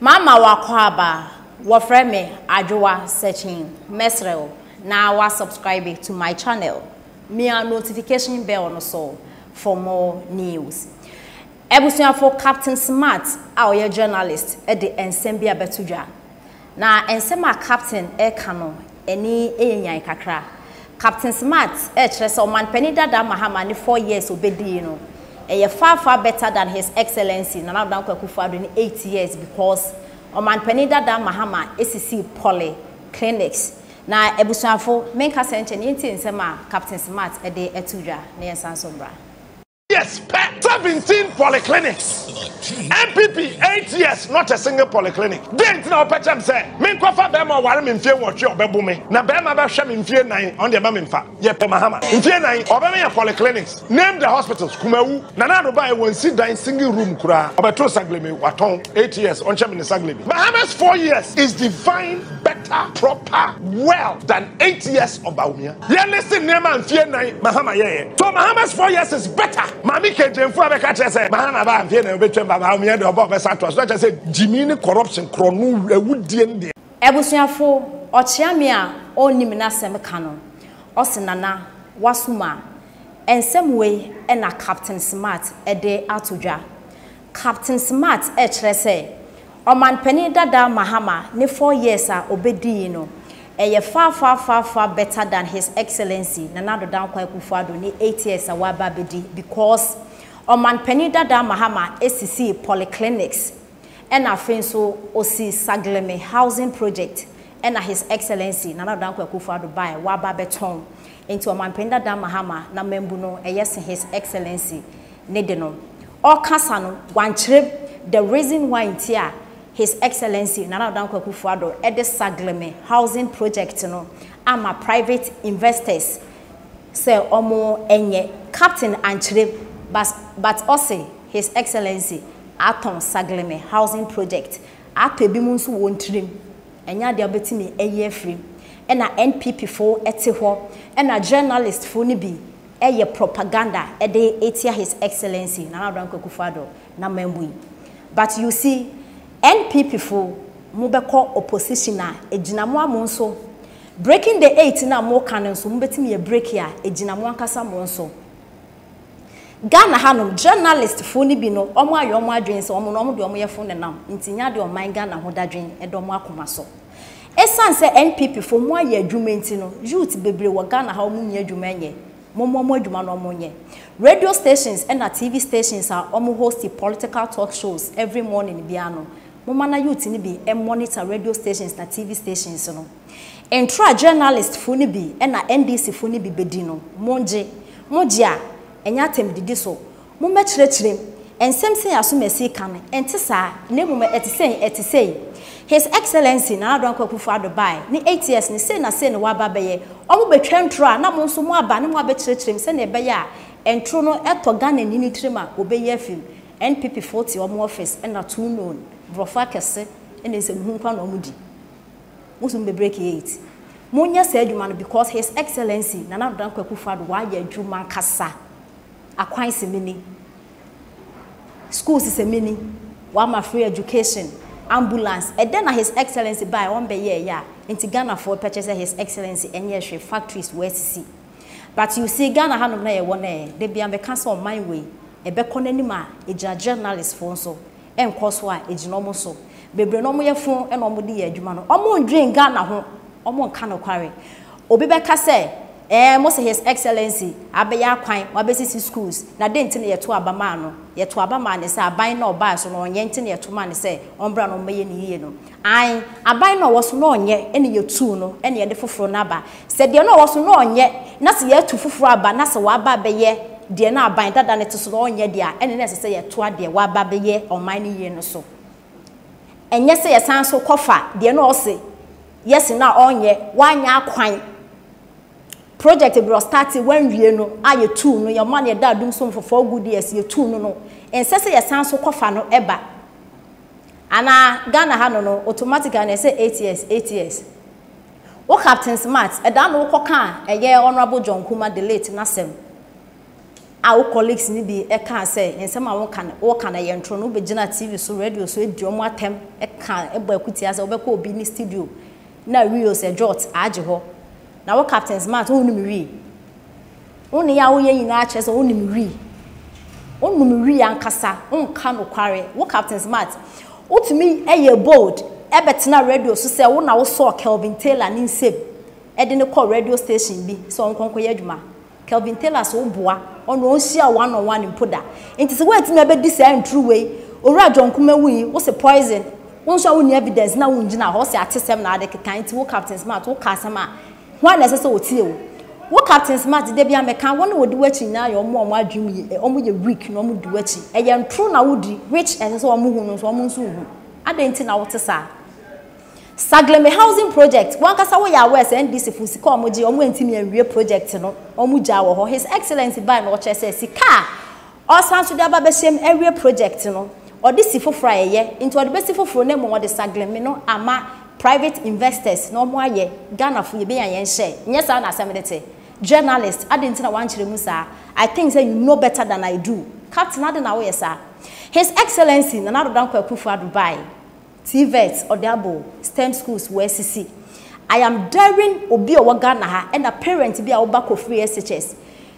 Mama w'akwaaba, wɔfrɛ me Adwoa Sekyin, mɛsrɛ wo na wa subscribe to my channel, mia notification bell no so for more news. Abusuafo Captain Smart a ɔyɛ journalist de nsɛm bi abɛto dwa, na nsɛm a Captain reka no Ani yɛ nyan kakra. Captain Smart rekyerɛ sɛ Ɔmanpanin dada Mahama ne four years obedii no yɛ far far better than His Excellency Nana Addo Dankwa Akufo Addo ne eight years because Ɔmanpanin dada Mahama sisii poly clinics. Na abusuafo, menkasa nkyɛ na yɛntie nsɛm a Captain Smart de to dwa na yɛnsan nso mmra. years pɛ seventeen polyclinics npp eight years not a single polyclinic dɛn nti na wɔpɛ kyɛm sɛ menkɔfa bɛrima ɔware me mfie nwɔtwe ɔbɛbo me na bɛrima bɛhwɛ me mfie nan ɔn deɛ ma memfa yɛpɛ mahama mfie nan ɔbɛma yɛ polyclinics name the hospitals kumawu nana ado baeɛ wɔnsi dan single room koraa ɔbɛtoo sagleme watɔn eight years ɔnkyɛ me ne sagleme bahamas four years is divine better, proper, well than eight years on Bawumia. Yɛ listen nneɛma a mfie nan Mahama yɛeɛ. So Mahama's four years is better? Maame Kegyamfo a bɛka kyerɛ sɛ Mahama baa mfie nan obetwam ba Bawumia deɛ ɔba ɔbɛsan atoa so na kyerɛ sɛ gyimii ne corruption korɔ no awudie no deɛ. Abusuafo ɔkyea me a ɔnnim n'asɛm ka no ɔse Nana wasom a. Nsɛm wei na Captain Smart de ato dwa. Captain Smart rekyerɛ sɛ Ɔmanpanin dada Mahama ne four years a ɔbɛdi yi no, ɛyɛ far far far far better than His Excellency Nana Addo Dankwa Akufo-Addo ne eight years a waba abɛdi because Ɔmanpanin dada Mahama sisii polyclinics ɛna afei nso ɔsi Sagleme housing project ɛna His Excellency Nana Addo Dankwa Akufo-Addo baeɛ waba abɛtɔn nti Ɔmanpanin dada Mahama na mambu no ɛyɛ se His Excellency ne de no. Ɔrekasa no, wankyerɛ the reason why nti a His Excellency Nana Addo Dankwa Akufo-Addo de Sagleme Housing Project no ama private investors sɛ wɔnyɛ. Captain ankyerɛ but but ɔse His Excellency atɔn Sagleme Housing Project, atɔ ebinom nso wɔn tirim. Ɛnyɛ adeɛ a wobɛtumi ayi afiri mu. Ɛna NPP foɔ te hɔ, ɛna journalist foɔ no bi, yɛ propaganda de tia His Excellency Nana Addo Dankwa Akufo Addo na mambu yi. But you see, NPP fo mo bɛkɔ opposition a egyina mo a mo nso breaking the eight no a mo ka no nso mo bɛtumi a break a egyina mo ankasa mo nso. Ghana ha nom journalist fo no bi no ɔmo ayɛ ɔmo adwene sɛ ɔmo no ɔmo deɛ ɔmo yɛ fo nenam nti nyɛ adeɛ ɔman Ghana ho dadwen ɛda ɔmo akoma so. Esiane sɛ NPP foɔ ɔmo ayɛ adwuma nti no, youth bebree wɔ Ghana ha ɔmo nnya adwuma nyɛ. Mommɔ mo adwuma na ɔmo nyɛ. Radio stations ɛna TV stations a ɔmo hosti political talk shows every morning biara no, momma na youth no bi monitor radio stations na TV stations no. Ntoro a journalist foɔ no bi ɛna NDC foɔ no bi bedi no, mongye. Mogye a, ɛnyɛ atam didi so. Mommɛkyerɛkyerɛ mu. Nsɛm sei a Asomasi reka no, ɛnte saa, na mmom ɛte sei, ɛte sei. His Excellency Nana Addo Dankwa Akufo-Addo bae, ne eight years no, sei na sei na waba abɛyɛ. Wɔbɛtwa ntoro a, na mo nso moaba ne moabɛkyerɛkyerɛ mu sɛnea ɛbɛyɛ a ntoro no tɔ Ghanani no tirim a, wɔbɛyi afi mu. NPPfoɔ te wɔn office, ɛnna too known, borɔfo akɛse ne nsɛmhunka na wɔdi. Mo nso mobɛbreki eight. Monyɛ saa adwuma no because His Excellency Nana Addo Dankwa Akufo-Addo wayɛ adwuma ankasa. akwan se mini schools se mini wama free education ambulance ɛdɛ na his excellency bae ɔn bɛyɛɛ ya nti Ghana foɔ pɛkyɛ sɛ his excellency ɛnyɛɛ hwee factories wɔ asisi but you see Ghana hanom na yɛwɔ nɛ dabia meka sɛ ɔman wei ɛbɛkɔ nanim a ɛgyina journalist foɔ nso nkɔ so a ɛgyina wɔn so bebree na wɔyɛ fo na wɔde yɛ adwuma no wɔn ndwen Ghana ho wɔn nka nokware obi bɛka sɛ ɛɛ mo se his excellency abɛyɛ akwan wabɛsisi schools na dɛn nti na yɛto aba maa no yɛto aba maa ne sɛ aban na ɔbaa so no ɔnyɛ nti na yɛto maa ne sɛ ɔmbra na ɔmbɛyɛ ne yie no Ae, aban no a ɔwɔ so na ɔnyɛ na yɛtuu no na yɛde foforɔ no aba. Sɛ deɛ na ɔwɔ so na ɔnyɛ na sɛ yɛatu foforɔ aba na sɛ waba abɛyɛ deɛ na aban dada no te so na ɔnyɛ deɛ a, ɛnneɛ na ɛsɛ sɛ yɛtoa deɛ waba abɛyɛ ɔman no yie no so. Ɛnyɛ sɛ yɛsan nso kɔfa deɛ na ɔse yɛse no a ɔnyɛ, wanyɛ akwan, project berɛ ɔstate wanwie no a yɛtuu no, yɛma no yɛda adum so for four good years, yɛtuu no no, ɛnsɛ sɛ yɛsan nso kɔfa no ba. Ana Ghana ha no no automatically na ɛsɛ eight years eight years? Wo Captain Smart ɛdaa na wokɔ kaa ɛyɛ Honourable John Nkrumah the late n'asɛm a wo colleagues no bi ɛkaa sɛ nsɛm a woka no woka no ɛyɛ ntorɔ no wobɛgyina TV so radio so adi wɔn atɛm ɛka ɛbɔ akutia sɛ wobɛkɔ obi ne studio na reels ɛdwɔt agye hɔ na wo Captain Smart wonum wii Wo nneyɛe a woyɛ nyinaa kyerɛ sɛ wonim wi. Wonom wi ankasa, wonka nokware. Wo Captain Smart, wotumi yɛɛ bold bɛtenaa radio so sɛ wo na wosɔɔ Kelvin Taylor ne nsam de no kɔɔ radio station bi sɛ ɔnkɔ nkɔyɛ adwuma. Kelvin Taylor se woboa ɔno ɔnhyia wo one on one mpo da. Nti sɛ woantumi abɛdi saa nturu wei, Owura John Nkrumah wui, wose poison, wo nso a wonni evidence na wongyina hɔ, wose atesɛm na wode kekae, nti wo Captain Smart woka asɛm a Hwan na ɛsɛ sɛ otie wo? Wo captain smart de dabi a meka wɔn a wɔdi w'akyi nyinaa yɛ wɔn a wɔn adwene ye ɛ wɔn yɛ weak na wɔn di w'akyi ɛyɛ ntoro na wodi which ɛnsɛ sɛ wɔn hu no nso wɔn nso nhu adɛn nti na wote saa Sagleme housing project wankasa woyɛ aware sɛ NDC fo sika a wɔn gye wɔn antumi anwie project no wɔn gyaa wɔ hɔ his excellency bae na ɔkyerɛ sɛ sika a Ɔresan nso de aba bɛhyɛ mu awie project no, ɔde si foforɔ a ɛyɛ, nti ɔde bɛsi foforɔ na mmom ɔde Saglemi no ama private investors na wɔn ayɛ, Ghanafoɔ yɛbɛnya yɛn share, nyɛ saa na asɛm no te? Journalist, adɛn nti na woankyerɛ mu saa? I think sɛ you know better than I do, Captain adɛn na woyɛ saa? His Excellency Nana Addo Dankwa Akufo-Addo bae, TVET ɔde abɔ o, stem schools wɔasisi, I am daring obi a ɔwɔ Ghana ha ɛna parent bi a wo ba kɔ free SHS,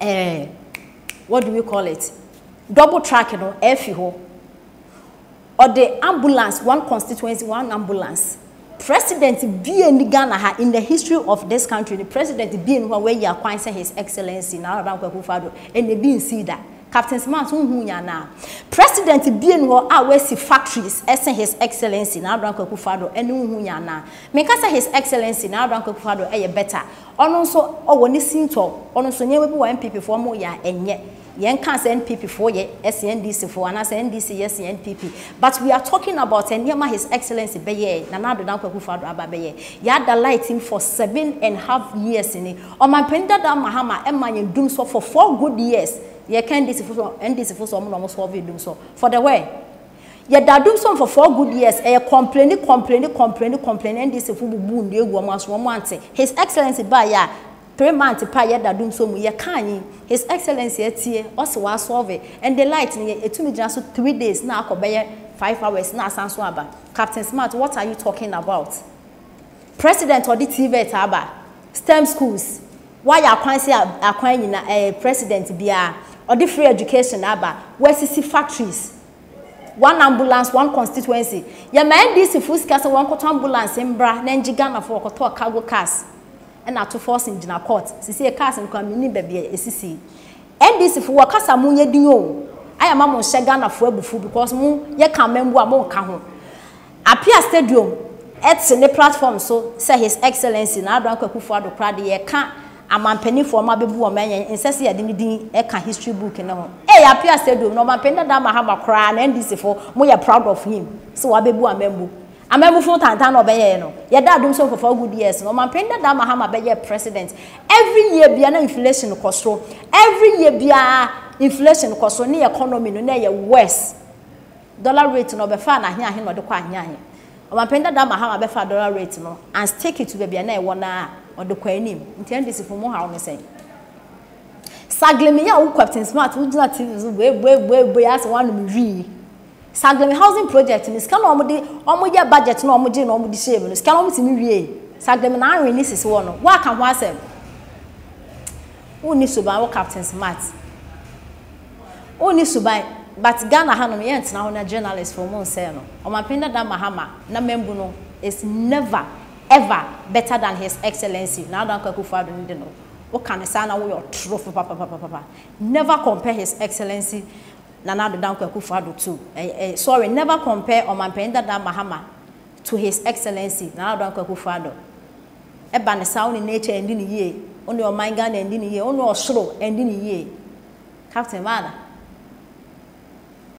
eh, what do we call it double track no ɛfi hɔ ɔde ambulance one constituency one ambulance president bie ni ghana ha in the history of this country ni president bie ni hɔ a wɔayi akwan sɛ his excellency na araba nkɔ akufo ado ɛna ebi nsi da captain smart ho hu nya na president bie ni hɔ a wɔasi factories ɛsɛ his excellency na araba nkɔ akufo ado ɛna ho hu nya na meka sɛ his excellency na araba nkɔ akufo ado ɛyɛ better Ɔno nso ɔwɔ ne sintɔ, ɔno nso nneɛma bi wɔ a NPP foɔ wɔyɛ a ɛnyɛ. Yɛn kaa sɛ NPP foɔ yɛ ɛsen NDC foɔ anaa sɛ NDC yɛ sen NPP but we are talking about nneɛma his excellency bɛyɛɛ, Nana Addo Dankwa Akufo Addo aba abɛyɛ. Yɛada light mu for seven and half years ni. Ɔmanpanin dada Mahama ɛmaa yɛn dumsɔ for four good years. Yɛka NDC foɔ sɛ NDC foɔ sɛ wɔn na wɔn solve dumsɔ for the where? Yɛ da dum som for four good years ɛyɛ kɔmpleni kɔmpleni kɔmpleni kɔmpleni NDC fo bubu nnua egu ɔmo aso ɔmo ante his excellence baa yɛ a three month paa yɛ da dum som mu yɛ kaa nyi his excellence atie ɔse wa solve ɛnde light no yɛ etumi gyina so three days na akɔ bɛyɛ five hours na asan so aba captain smart what are you talking about. President ɔde TVET aba, stem schools, wayɛ akwan se akwan nyina eh, president biaa, ɔde free education aba, wasisi factories, one ambulance one constituency, yɛma NDC foɔ sika sɛ wɔnkɔtɔ ambulance mbra na ngye Ghana foɔ, wɔkɔtɔɔ cargo cars na ato forcing gyina court, sesie cars no koraa mennim baabi a esisi, NDC foɔ wɔkasa mo nyɛ din oo, ayɛ ama mo nhyɛ Ghana foɔ abufuo because mo yɛ ka amambuo a monka ho. Apia Stadium te ne platform so sɛ His Excellency Nana Addo Anko Akufo Addo koraa de yɛka Amampaninfoɔ ɔma bɛbu wɔn ɛnyɛ nsɛ sɛ yɛde ne din ka history book no ho. Ei Apia Stadium na Ɔmampanin dadaa Mahama koraa na NDC foɔ mo yɛ proud of him sɛ wabɛbu Amambu. Amambufo ntantan na ɔbɛyɛɛ no. Yɛda adom sɛ Nkurɔfoɔ good years no Ɔmampanin dadaa Mahama bɛyɛɛ president. Every year biara na inflation kɔ soro. Every year biara inflation kɔ soro ne economy no na ɛyɛ worse. Dollar rate no ɔbɛfaa no ahe ahe na ɔde kɔ ahe ahe? Ɔmanpanin dadaa Mahama bɛfaa dollar rate no and stick it to baabi a na ɛwɔ no ara a ɔde kɔ anim. Nti NDC fo mo haw ne sɛn? Saglimi yɛ a wo Captain Smart wo gyina TV so boe boe boe boe ase wanom wii. Saglimi housing project no sika na wɔn de wɔn yɛ budget na wɔn gye na wɔn de hyɛɛ mu no sika na wɔn tumi wie. Saglimi na anwen ne sisi wɔ no woaka ho asɛm. Wo ni suban wo Captain Smart. Wo nni suban but Ghana ha nom yɛn tena hɔ na journalist foɔ mo nsɛɛ no ɔmapen dada Mahama na mambu no is never ever better than his excellency Nana Dankwa Akufo Addo no de no wo ka no saa na woyɛ ɔtorofo papapapapa never compare his excellency Nana Addo Dankwa Akufo Addo to eh eh sorry never compare ɔmapen dada Mahama to his excellency Nana Addo Dankwa Akufo Addo. ɛba no saa, wo ne nature ɛndi no yie, wo ne ɔman Ghana ɛndi no yie, wo ne ɔsoro ɛndi no yie. Captain, maada.